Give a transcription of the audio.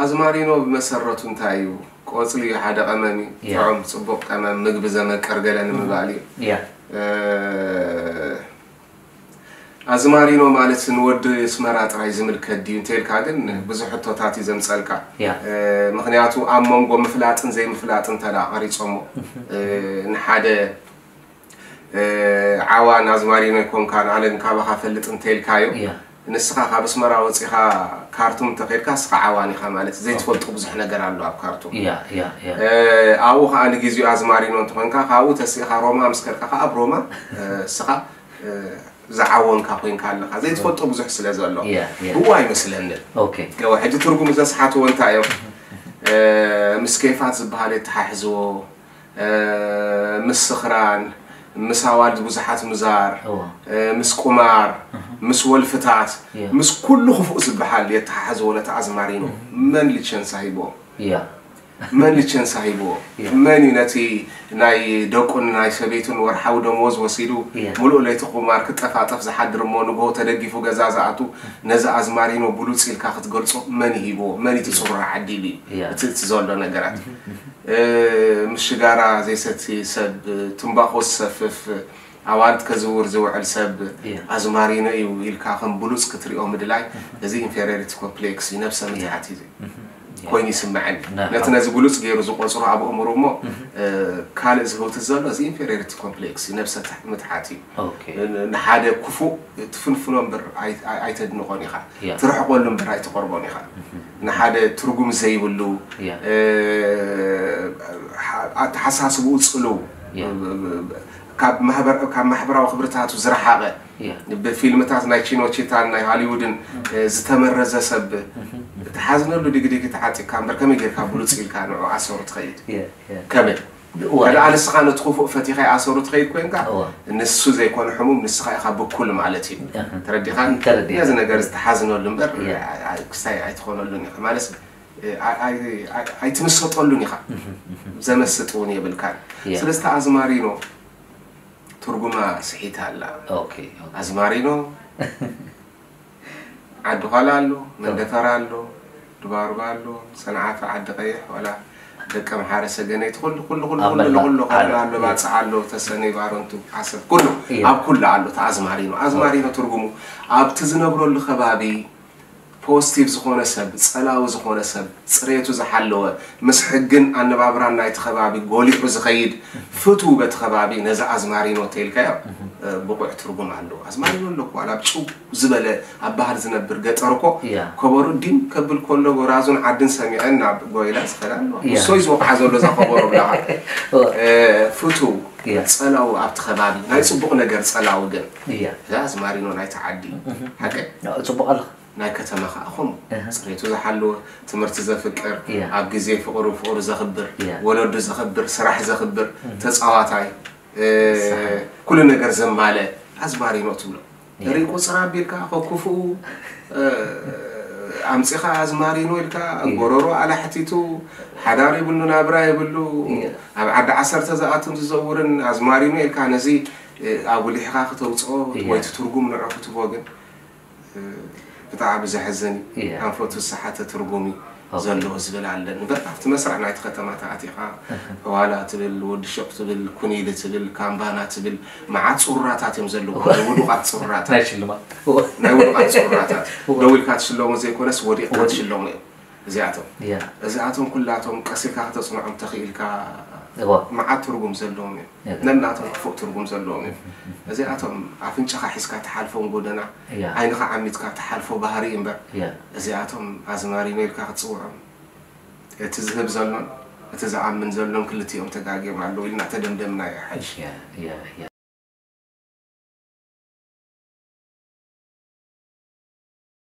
ኣዝማሪኖ ብመሰረቱ እንታይ እዩ? ቆጽሊ እዩ ሓደ ቀመም እዩ ጥዑም ጽቡቅ ቀመም ምግቢ ዘመቅር ገለ ንምባል እዩ። ኣዝማሪኖ ማለት ንወዲ ኣስመራ ጥራይ ዝምልከት ድዩ እንተልካ ግን ብዙሕ ሕቶታት እዩ ዘምጸልካ ምክንያቱ ኣብ መንጎ ምፍላጥን ዘይምፍላጥን እንተ ቀሪጾሞ ንሓደ ዓዋን ኣዝማሪኖይ ኮንካ ንኣነ ግን ካባኻ ፈልጥ እንተኢልካዮ ንስኻ ካብ ኣስመራ ወፂኻ ካርቱም እንተኸድካ ንስኻ ዓዋን ኢኻ ማለት እዩ ዘይትፈልጦ ብዙሕ ነገር ኣሎ ኣብ ካርቱም ኣብኡ ከዓ ንግዜኡ ኣዝማሪኖ እንትኾንካ ካብኡ ተሲእኻ ሮማ ምስ ከድካ ከዓ ኣብ ሮማ ንስኻ ዝዓወንካ ኮንካ ኣለኻ ዘይትፈልጦ ብዙሕ ስለ ዘሎ ብኡ ኣይመስለንን ገወ ሕጂ ትርጉም ዘስሓትዎ እንታይ እዮም ምስ ኬፋት ዝበሃል የተሓሕዝዎ ምስ ስኽራን፣ ምስ ኣዋልድ ብዙሓት ምዛር፣ ምስ ቁማር፣ ምስ ወልፍታት፣ ምስ ኩሉ ክፉእ ዝበሃል የተሓሕዝዎ ነቲ ኣዝማሪኖ። መን ሊቸንሳ ሂብዎ? መን ሊቸንሳ ሂብዎ? መን እዩ ነቲ ናይ ደቁን ናይ ሰበይቱን ወርሓዊ ደመወዝ ወሲዱ ምሉእ ለይቲ ቁማር ክጠፋጠፍ ዝሓድር እሞ ንግሆ ተደጊፉ ገዛ ዝኣቱ ነዚ ኣዝማሪኖ ብሉጽ ኢልካ ክትገልጾ መን እዩ ሂብዎ? መን እዩ እቲ ጽሩራ ዓዲሉ እዩ እቲ ዘሎ ነገራት? ምስ ሽጋራ ዘይሰቲ ሰብ፣ ትምባኾ ዝሰፍፍ፣ ኣዋልድ ከዝውር ዝውዕል ሰብ ኣዝማሪኖ እዩ ኢልካ ከም ብሉጽ ክትሪኦ ምድላይ እዚ ኢንፌሪዮሪቲ ኮፕሌክስ እዩ፣ ነብሰ ምትሓት እዩ ኮይኑ ይስመዐኒ። ነቲ ነዚ ብሉጽ ገይሩ ዝቖጽሮ ኣብ ኣእምርኡ እሞ ካልእ ዝህውትት ዘሎ እዚ ኢንፌሪዮሪቲ ኮፕሌክስ እዩ፣ ነብሰ ምትሓት እዩ። ንሓደ ክፉእ ትፍንፍኖ እምበር ኣይተድንቖን ኢኻ፣ ትርሕቐሉ እምበር ኣይትቐርቦን ኢኻ። ንሓደ ትርጉም ዘይብሉ ኣተሓሳስብኡ ፅልው ካብ ማሕበራዊ ክብርታቱ ዝረሓቐ ብፊልምታት ናይ ቺኖቺታን ናይ ሃሊውድን ዝተመረዘ ሰብ ትሓዝነሉ ዲግዲግ ተዓጢቕካ እምበር ከመይ ጌርካ ብሉፅ ኢልካ ንዑ ኣሰሩ ትኸይድ ከመይ እዋይ ኣል እስኻ ነት ኩፉእ ፈቲኻ ኣሰሩ ትኸይድ ኮንካ እወ። ንሱ ዘይኮነ ሕሙም ንስኻ ኢኻ ብኩል ማለት እዩ እህ። ተረዲኻን ተረዲኤ። ነዚ ነገር ትሓዝነሉ እምበር እየ። ኣ- ኣ- ክስታይ ኣይትኾነሉን ኢኻ ማለስ ኣ- ኣይ- ኣይ- ኣይትምሰጠሉን ኢኻ ዘመስጥ እውን የብልካን እየ። ስለዚ እታ ኣዝማሪኖ ትርጉማ ስሒታ ኣላ ኦኬ ኦኬ። ኣዝማሪኖ ዓዲ ዃላ ኣሎ፣ መንደፈራ ኣሎ፣ ድባርባ ኣሎ፣ ሰንዓፈ፣ ዓዲ ቀይሕ፣ ዋላ ደቀ ምሓረ፣ ሰገነይቲ ኩሉ ኩሉ ኩሉ ኩሉ ኣመላ ንኹሉ ዓረብ ኸለላ ኣሎ፣ እየ። ባጽዕ ኣሎ፣ ተሰነይ፣ ባረንቱ፣ ዓሰብ ኩሉ እየ። ኣብ ኩሉ ኣሎ እቲ ኣዝማሪኖ። ኦኬ። ኣዝማሪኖ ትርጉሙ ኣብቲ ዝነብረሉ ከባቢ ፖስቲቭ ዝኾነ ሰብ፣ ጸላዊ ዝኾነ ሰብ፣ ጽሬቱ ዝሓለወ፣ ምስ ሕግን ኣነባብራን ናይቲ ከባቢ ጎሊሑ ዝኸይድ ፍትው በቲ ከባቢ ነዚ ኣዝማሪኖ ተኢልካዮ ብቑዕ ትርጉም ኣለዎ። ኣዝማሪኖ ኣሎ እኮ ዋላ ኣብ ጭው ዝበለ ኣብ ባህር ዝነብር ገጠር እኮ ኮቦሩ ዲም ከብል ኮሎ ጎራዙን ዓድን ሰሚዐን ናብ ጎይላ ዝኸዳ ኣለዋ። ንሶዩ ዝወቕዓ ዘሎ እዛ ኮቦሮ ብላካ። ፍትው ጸላው ኣብቲ ከባቢ ናይ ጽቡቕ ነገር ጸላው ግን እዛ ኣዝማሪኖ ናይቲ ዓዲ እዩ። ሓቀይ? ጽቡቕ ኣለኻ። ናይ ከተማ ከኣ ከምኡ ጽሬቱ ዝሓለወ፣ ትምህርቲ ዘፍቅር፣ ኣብ ግዜ ፍቕሩ ፍቕሩ ዘኽብር፣ ወለዱ ዘኽብር፣ ስራሕ ዘኽብር፣ ተጻዋታይ፣ ኩሉ ነገር ዘማልእ ኣዝማሪኖ ትብሎ። ርኢይ ቁጽር ኣቢልካ ከኩፍኡ ኣምጺኻ ኣዝማሪኖ ኢልካ ጎረሮ ኣላሕቲቱ ሓዳር ይብሉ ናብራ ይብሉ ኣብ ዓዲ ዓሰርተ ዝኣቱን ዝዘውርን ኣዝማሪኖ ኢልካ ነዚ ኣጉሊሕኻ ክተውጽኦ ወይ ትርጉም ንዑ ክትቦ ግን ብጣዕሚ ዘሕዝን እዩ ኣንፈቱ ዝሰሓተ ትርጉም እዩ ዘለዎ ዝብል ኣለኒ እምበር ኣብቲ መስርዕ ናይቲ ከተማ ተኣቲኻ ዋላ ትብል ወዲ ሹቕ ትብል ኩኒሊ ትብል ካምባና ትብል መዓት ፅሩራታት እዮም ዘለዉ ናይ ውዱቓት ፅሩራታት ናይ ሽልማት ናይ ውዱቓት ፅሩራታት ደው ኢልካ ትሽለሙ ዘይኮነስ ወዲቕካ ትሽለሙ እዮም እዚኣቶም እዚኣቶም ኩላቶም ቀሲልካ ክተፅንዖም ተኽኢልካ መዓት ትርጉም ዘለዎም እዮም ነናቶም ክፉእ ትርጉም ዘለዎም እዮም። እዚኣቶም ኣፍንጫኻ ሒዝካ ትሓልፎም ጎደና፣ ዓይንኻ ዓሚትካ ትሓልፎ ባህሪ እምበር እዚኣቶም ኣዝማሪኖ ኢልካ ክትጽውዖም እቲ ዝህብ ዘሎን እቲ ዝኣምን ዘሎን ክልቲኦም ተጋግዮም ኣለዉ ኢልና ተደምደምናዮ ሓጂ።